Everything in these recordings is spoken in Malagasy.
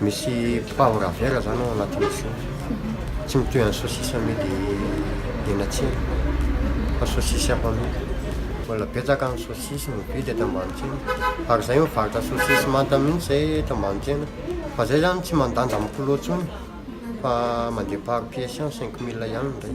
Misy pain ravera zany ao anatin'ny chou. Tsy mitohy an'ny saucisse amidy eny an-tsena fa saucisse hafa mihitsy. Mbola betsaka ny saucisse no vidy eto Ambanitsiana. Ary zay mivarotra saucisse manta mihitsy zay eto Ambanitsiana. Fa zay zany tsy mandanja amin'ny kilao intsony fa mandeha par pièce ihany, cinq mille ihany indray.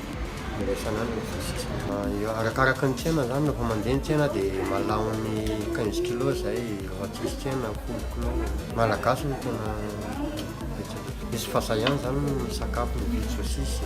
Iraisana any ny visika. Arakaraka ny tsena zany, rehefa mandeha ny tsena dia malaho ny quinze kilos zay, rehefa tsisy tsena folo kilos. Ny Malagasy no tena betsaka, misy fahazahany zany ny misakafo mividy sosisy.